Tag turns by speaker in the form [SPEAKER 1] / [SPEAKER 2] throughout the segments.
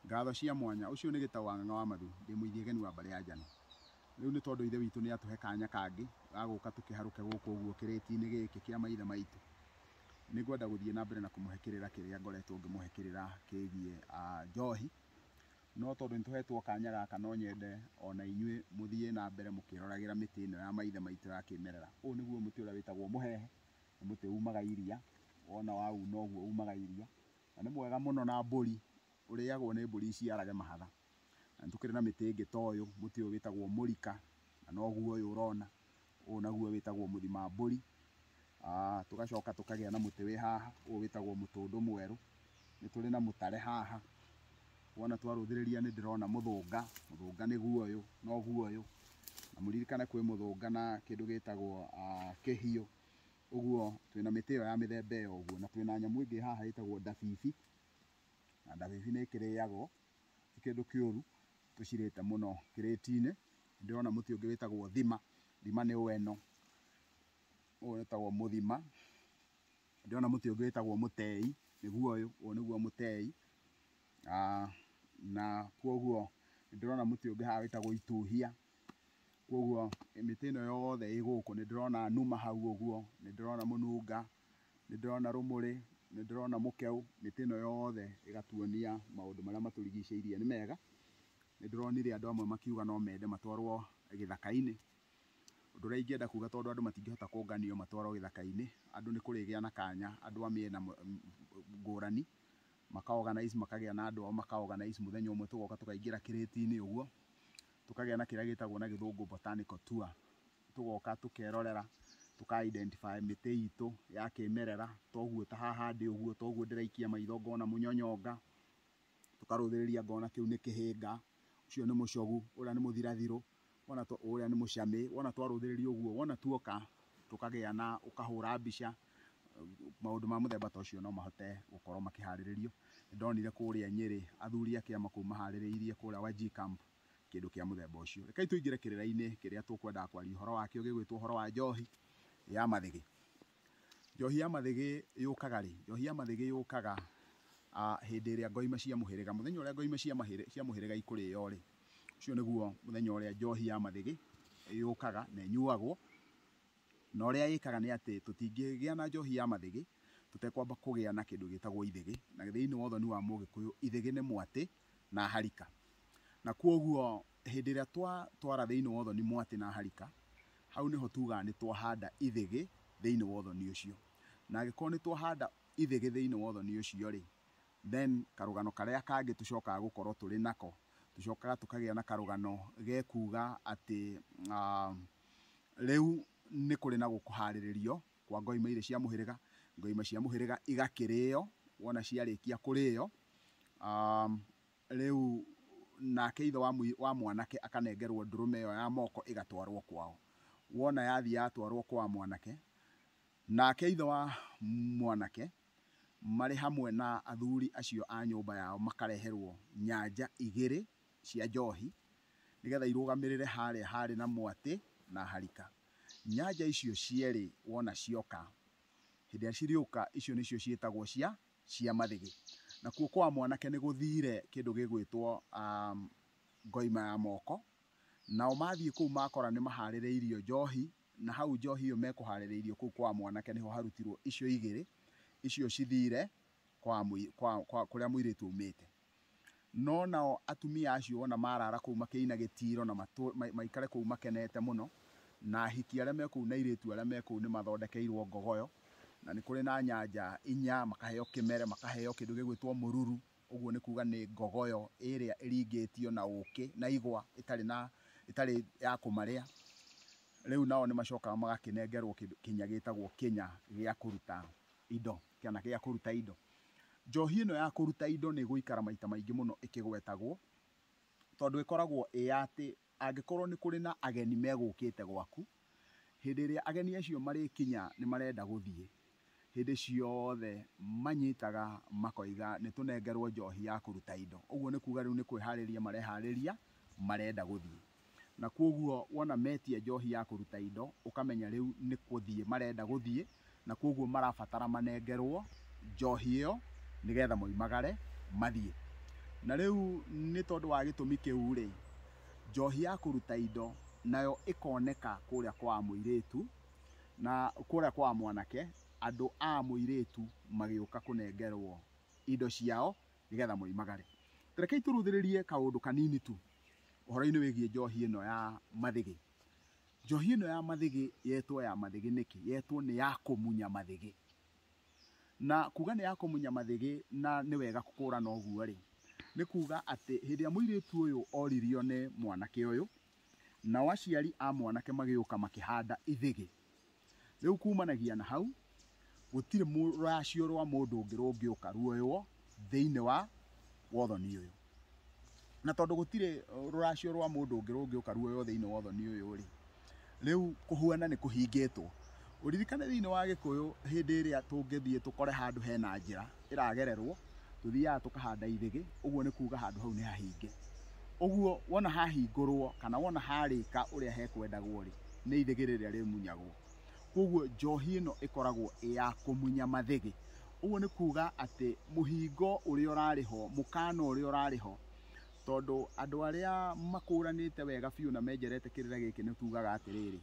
[SPEAKER 1] Ngatho cia mwanya. Ũcio nĩ Gĩtaũ wa Ng'ang'a wa Mathu. Ndĩ Mũithiageni wa mbarĩ ya Njano. Rĩu nĩ tondũ Ithe witũ nĩ atũhe kanya kangĩ ga gũka tũkĩharũke gũkũ ũguo kĩrĩti-inĩ gĩkĩ kĩa maithe maitũ, nĩ ngwenda gũthiĩ na mbere na kũmũhe kĩrĩra kĩrĩa ngoretwo ngĩmũhe kĩrĩra kĩgiĩ njohi. No tondũ nĩ tũhetwo kanya gaka no nyende o na inyuĩ mũthiĩ na mbere mũkĩroragĩra mĩtĩ ĩno ya maithe maitũ ya kĩmerera. Ũyũ nĩguo mũtĩ ũrĩa wĩtagwo mũhehe. nĩ mũtĩ umaga iria, wona wauna ũguo umaga iria, na nĩ mwega mũno na mbũri, ũrĩagwo nĩ mbũri iciarage mahatha. Na nĩtũkĩrĩ na mĩtĩ ĩngĩ ta ũyũ, mũtĩ ũyũ wĩtagwo mũrika, na noguo ũyũ ũrona, ũyũ naguo wĩtagwo mũthimambũri, tũgacoka tũkagĩa na mũtĩ wĩ haha, ũyũ wĩtagwo mũtũndũ mwerũ. Nĩ tũrĩ na mũtare haha, wona twarũthĩrĩria nĩ ndĩrona mũthũnga, mũthũnga nĩguo ũyũ, noguo ũyũ, na mũririkane kwĩ mũthũnga na kĩndũ gĩtagwo kĩhiũ, ũguo twĩ na mĩtĩ ĩyo ya mĩthemba ĩyo ũguo, na twĩ na nyamũ ĩngĩ haha ĩtagwo ndabibi, na ndabibi nĩ ĩkĩrĩagwo, ti kĩndũ kĩũru, tũcirĩte mũno kĩrĩti-inĩ, nĩ ndĩrona mũtĩ ũngĩ wĩtagwo thima, thima nĩ ũyũ, ũyũ wĩtagwo mũthima. Ndĩrona mũtĩ ũngĩ wĩtagwo mũtei, nĩguo ũyũ, ũyũ nĩguo mũtei, na kwoguo nĩ ndĩrona mũtĩ ũngĩ haha wĩtagwo ituhia, kwoguo mĩtĩ ĩno yothe ĩ gũkũ, nĩ ndĩrona nũma hau ũguo, nĩ ndĩrona mũnunga, nĩ ndĩrona rũmũrĩ, nĩ ndĩrona mũkeu, mĩtĩ ĩno yothe ĩgatuonia maũndũ marĩa matũrigicĩirie nĩ mega. Nĩ ndĩronire andũ amwe makiuga no mende matwarwo gĩthaka-inĩ. Ũndũ ũrĩa ingĩenda kuga tondũ andũ matingĩhota kũnganio matwarwo gĩthaka-inĩ, andũ nĩ kũrĩgĩa na kanya andũ a mĩena ngũrani maka organize makagĩa na andũ ao maka organize mũthenya ũmwe tũgoka tũkaingĩra kĩrĩti-inĩ ũguo, tũkagĩa na kĩrĩa gĩtagwo na gĩthũngũ botanical tour. Tũgoka tũkerorera, tũka identify mĩtĩ itũ ya kĩmerera, ta ũguo ta haha ndĩ ũguo, ta ũguo ndĩraikia maitho ngona mũnyonyonga, tũkarũthĩrĩria ngona kĩu nĩ kĩhĩnga, ũcio nĩ mũcogu, ũrĩa nĩ mũthirathirũ, Wona twa, ũrĩa nĩ mũcamĩ, wona twarũthĩrĩria ũguo, wona tuoka tũkagĩa na ũkahũra mbica, maũndũ ma mũthemba ta ũcio no mahote gũkorwo makĩharĩrĩrio. Nĩ ndonire kũrĩa Nyĩrĩ athuri a kĩama kũu maharĩrĩirie kũrĩa Wajir Camp kĩndũ kĩa mũthemba ũcio. Rekei tũingĩre kĩrĩra-inĩ kĩrĩa tũkwendaga kwaria ũhoro wakĩo gĩgwĩtwo ũhoro wa njohi ya mathĩgĩ. Njohi ya mathĩgĩ yũkaga rĩ? Njohi ya mathĩgĩ yũkaga hĩndĩ ĩrĩa ngo imwe cia mũhĩrĩga, mũthenya ũrĩa ngo imwe cia mũhĩrĩga ikũrĩo rĩ, ũcio nĩguo mũthenya ũrĩa njohi ya mathĩgĩ yũkaga na ĩnyuagwo. Na ũrĩa ĩkaga nĩ atĩ tũtingĩgĩa na njohi ya mathĩgĩ tũtekwamba kũgĩa na kĩndũ gĩtagwo ithĩgĩ. Na thĩinĩ wa ũthoni wa mũgĩkũyũ ithĩgĩ nĩ mwatĩ na harika. Na kwoguo hĩndĩ ĩrĩa twatwara thĩinĩ wa ũthoni mwatĩ na harika, hau nĩho tugaga nĩ twahanda ithĩgĩ thĩinĩ wa ũthoni ũcio. Na angĩkorwo nĩ twahanda ithĩgĩ thĩinĩ wa ũthoni ũcio rĩ, then karũgano karĩa kangĩ tũcokaga gũkorwo tũrĩ nako, tũcokaga tũkagĩa na karũgano ge kuga atĩ rĩu nĩ kũrĩ na kũharĩrĩrio kwa ngoima irĩ cia mũhĩrĩga, ngoima cia mũhĩrĩga igakĩrĩo, wona ciarĩkia kũrĩo Rĩu nake ithe wa mũi, wa mwanake akanengerwo ndũrũme ĩyo ya moko ĩgatwarwo kwao. Wona yathiĩ yatwarwo kwa mwanake, nake ithe wa mwanake marĩ hamwe na athuri acio a nyũmba yao makareherwo nyanja igĩrĩ cia njohi nĩgetha irũgamĩrĩre harĩa harĩ na mwatĩ na harika. Nyanja icio cierĩ wona cioka, hĩndĩ ĩrĩa cirĩũka, icio nĩcio ciĩtagwo cia cia mathĩgĩ. Nakuo kwa mwanake nĩ gũthiire kĩndũ gĩgwĩtwo ngoima ya moko, nao mathiĩ kũu makora nĩ mahaarĩrĩirio njoohi, na hau njoohi ĩyo mekũhaarĩrĩirio kũu kwa mwanake nĩho harutirwo icio igĩrĩ, icio cithiire kwa kũrĩa mũirĩtu aumĩĩte. No nao atumia acio wona maraara kũu makĩina gĩtiiro na maikare kũu makenete mũno, na ahiki arĩa me kũu na airĩtu arĩa me kũu nĩmathondekeirwo ngogoyo, na nĩ kũrĩ na nyanja inya, makaheo kĩmere, makaheo kĩndũ gĩgwĩtwo mũruru, ũguo nĩ kuuga nĩ ngogoyo ĩrĩa ĩringĩtio na ũũkĩ na igwa ĩtarĩ na, ĩtarĩ ya kũmarĩa. Rĩu nao nĩmacokaga magakĩnengerwo kĩndũ kĩnya gĩtagwo kĩnya gĩa kũruta indo. Kĩana gĩa kũruta indo. Njohi ĩno ya kũruta indo nĩ ĩgũikara maita maingĩ mũno ĩkĩgwetagwo, tondũ ĩkoragwo ĩ ya atĩ angĩkorwo nĩ kũrĩ na ageni megũkĩte gwaku, hĩndĩ ĩrĩa ageni acio marĩkinya nĩ marenda gũthiĩ, hĩndĩ ciothe manyitaga makoiga nĩ tũnengerwo njohi ya kũruta indo. Ũguo nĩ kuuga rĩu nĩ kwĩharĩria mareharĩria marenda gũthiĩ. Na kwoguo wona metia njohi ya kũruta indo, ũkamenya rĩu nĩ kũthiĩ marenda gũthiĩ, na kwoguo marabatara manengerwo njohi ĩyo nĩgetha moimagare mathiĩ. Na rĩu nĩ tondũ wa gĩtũmi kĩu-rĩ, njohi ya kũruta indo nayo ĩkoneka kũrĩa kwa mũirĩtu, na kũrĩa kwa mwanake, andũ a mũirĩtu magĩũka kũnengerwo indo ciao nĩgetha moimagare. Ta rekei tũrũthĩrĩrie kaũndũ kanini tu. ũhoro-inĩ wĩgiĩ njohi ĩno ya mathĩgĩ. Njohi ĩno ya mathĩgĩ yetwo ya mathĩgĩ nĩkĩ? Yetwo nĩ ya kũmunya mathĩgĩ. Na kuga nĩ ya kũmunya mathĩgĩ na nĩ wega kũkũrana ũguo rĩ, nĩ kuga atĩ hĩndĩ ĩrĩa mũirĩtu ũyũ oririo nĩ mwanake ũyũ, nao aciari a mwanake magĩũka makĩhanda ithĩgĩ, Rĩu kuumanagia na hau, gũtirĩ rũracio rwa mũndũ ũngĩ rũngĩũka ruoywo thĩinĩ wa wothoni ũyũ. Na tondũ gũtirĩ rũracio rwa mũndũ ũngĩ rũngĩũka ruoywo thĩinĩ wa wothoni ũyũ-rĩ, rĩu kũhuana nĩ kũhingĩtwo. Ũririkane thĩinĩ wa Gĩkũyũ hĩndĩ ĩrĩa tũngĩthiĩ tũkore handũ hena njĩra, ĩragererwo tũthiaga tũkahanda ithĩgĩ, ũguo nĩ kuga handũ hau nĩ hahinge. Ũguo wona hahingũrwo kana wona harĩka ũrĩa hekwendagwo rĩ, nĩ ithĩgĩ rĩrĩa rĩmunyagwo. Koguo njohi ĩno ĩkoragwo ĩ ya kũmunya mathĩgĩ. Ũguo nĩ kuga atĩ mũhingo ũrĩa ũrarĩ ho, mũkana ũrĩa ũrarĩ ho, tondũ andũ arĩa makũranĩte wega biũ na menjerete kĩrĩra gĩkĩ nĩ tugaga atĩrĩrĩ,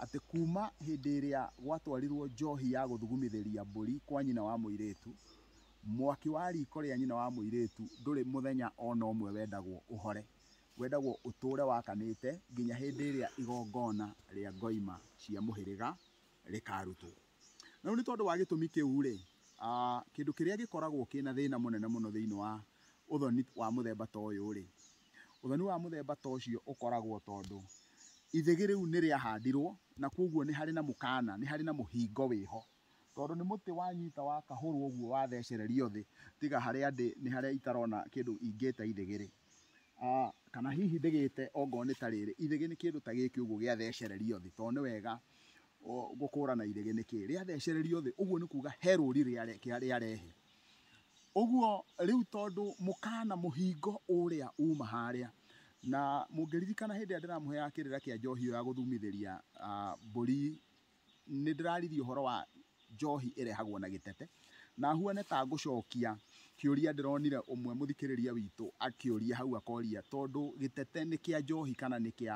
[SPEAKER 1] atĩ kuuma hĩndĩ ĩrĩa gwatwarirũo njohi ya gũthugumithĩria mbũri kwa nyina wa mũirĩtu, mwaki wa riiko rĩa nyina wa mũirĩtu ndũrĩ mũthenya o na ũmwe wendagwo ũhore. Wendagwo ũtũũre wakanĩte nginya hĩndĩ ĩrĩa igongona rĩa ngoima cia mũhĩrĩga rĩkaarutwo. Na rĩu nĩ tondũ wa gĩtũmi kĩu-rĩ, kĩndũ kĩrĩa gĩkoragwo kĩna thĩna mũnene mũno thĩinĩ wa ũthoni wa mũthemba ta ũyũ-rĩ, Ũthoni wa mũthemba ta ũcio ũkoragwo tondũ ithĩgĩ rĩu nĩ rĩahandirũo na kwoguo nĩ harĩ na mũkaana, nĩ harĩ na mũhingo wĩ ho. Tondũ nĩ mũtĩ wanyita wakahũrũo ũguo wathecererio thĩ, tiga harĩa ndĩ nĩ harĩa itarona kĩndũ ingĩta ithĩgĩ rĩ, kana hihi ndĩgĩte ongorũo nĩ ta rĩrĩ, ithĩgĩ nĩ kĩndũ ta gĩkĩ ũguo gĩathecererio thĩ, tondũ nĩ wega gũkũrana ithĩgĩ nĩ kĩĩ. Rĩathecererio thĩ, ũguo nĩ kuuga he rũri rĩarehe. Ũguo rĩu tondũ mũkaana mũhingo ũũrĩa uuma haarĩa, na mũngĩririkana hĩndĩ ĩrĩa ndĩramũheaga kĩrĩra kĩa njohi ĩyo ya gũthumithĩria mbũri, nĩ ndĩraririe ũhoro wa njohi ĩrehagwo na gĩtete, na huane ta ngũcokia kĩũria ndĩronire ũmwe mũthikĩrĩria witũ akĩũria hau akoria, tondũ gĩtete nĩ kĩa njohi kana nĩ kĩa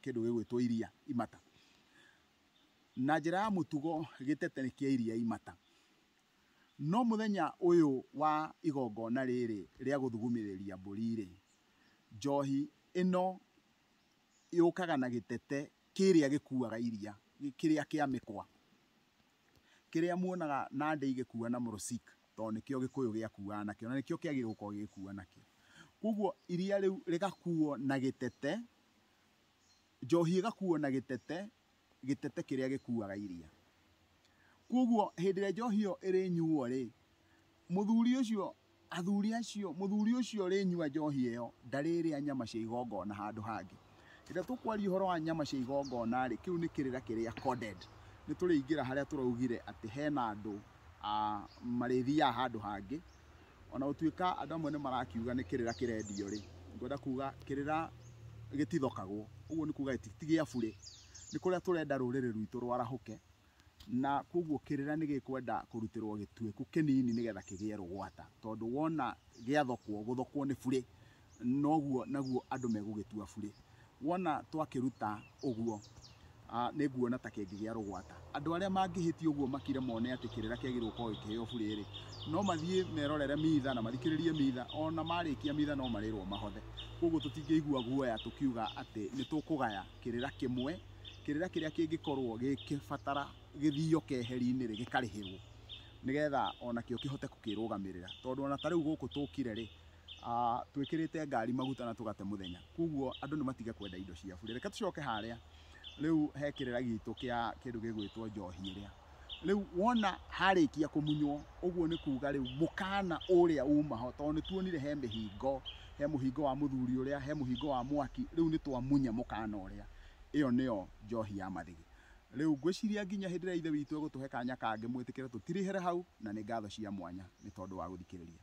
[SPEAKER 1] kĩndũ gĩgwĩtwo iria, imata. Na njĩra ya mũtugo gĩtete nĩ kĩa iria, imata. No mũthenya ũyũ wa igongona rĩrĩ rĩa gũthugumĩrĩria mbũri-rĩ, njohi ĩno yũkaga na gĩtete kĩrĩa gĩkuaga iria, kĩrĩa kĩa mĩkwa, kĩrĩa muonaga Nandi igĩkua na mũrũcik, tondũ nĩkĩo gĩkũyũ gĩakuaga nakĩo, na nĩkĩo kĩagĩrĩirwo gũkorwo gĩgĩkua nakĩo. Kuoguo iria rĩu rĩgakuo na gĩtete, njohi ĩgakuo na gĩtete, gĩtete kĩrĩa gĩkuaga iria. Kwoguo hĩndĩ ĩrĩa njohi ĩyo ĩrĩnyuo-rĩ, mũthuri ũcio, athuri acio, mũthuri ũcio ũrĩnyua njohi ĩyo ndarĩrĩa nyama cia igongona handũ hangĩ. Hĩndĩ ĩrĩa tũkwaria ũhoro wa nyama cia igongona-rĩ, kĩu nĩ kĩrĩra kĩrĩa coded. Nĩ tũrĩingĩra harĩa tũraugire atĩ hena andũ marĩthiaga handũ hangĩ ona gũtuĩka andũ amwe nĩ marakiuga nĩ kĩrĩra kĩrendio rĩ, ngwenda kuga kĩrĩra gĩtithokagwo. Ũguo nĩ kuga ti gĩa burĩ. Nĩ kũrĩa tũrenda rũrĩrĩ rwitũ rwarahũke, na kwoguo kĩrĩra nĩ gĩkwenda kũrutĩrwo gĩtuĩku kĩnini nĩgetha kĩgĩe rũgwata. Tondũ wona gĩathokwo, gũthokwo nĩ burĩ. noguo naguo andũ megũgĩtua burĩ. Wona twakĩruta ũguo, nĩ nguona ta kĩngĩgĩa rũgwata. Andũ arĩa mangĩhĩtia ũguo makire mone atĩ kĩrĩra kĩagĩrĩirwo gũkorwo gĩkĩheo burĩ-rĩ, no mathiĩ merorere mitha na mathikĩrĩrie mitha, ona marĩkia mitha no marĩrwo mahothe. Kũguo tũtingĩigua guoya tũkiuga atĩ nĩ tũkũgaya kĩrĩra kĩmwe, kĩrĩra kĩrĩa kĩngĩkorwo gĩgĩbatara gĩthio keheri-inĩ-rĩ, gĩkarĩhĩrwo, nĩgetha onakĩo kĩhote gũkĩrũgamĩrĩra. Tondũ ona ta rĩu gũkũ tũkire-rĩ, twĩkĩrĩte ngari maguta na tũgate mũthenya koguo andũ nĩ matige kwenda indo cia burĩ reke tũcoke harĩa rĩu he kĩrĩra gitũ kĩa kĩndũ gĩgwĩtwo njohi ĩrĩa rĩu wona harĩkia kũmunywo ũguo nĩ kuga rĩu mũkana ũrĩa umaho tondũ nĩ tuonire he mĩhingo he mũhingo wa mũthuri ũrĩa he mũhingo wa mwaki rĩu nĩ twamunya mũkana ũrĩa ĩyo nĩyo njohi ya mathigi Rĩu, ngwĩciria nginya hĩndĩ ĩrĩa Ithe witũ egũtũhe kanya kangĩ, mwĩtĩkĩre tũtirĩhĩre hau, na nĩ ngatho cia mwanya nĩ tondũ wa gũthikĩrĩria.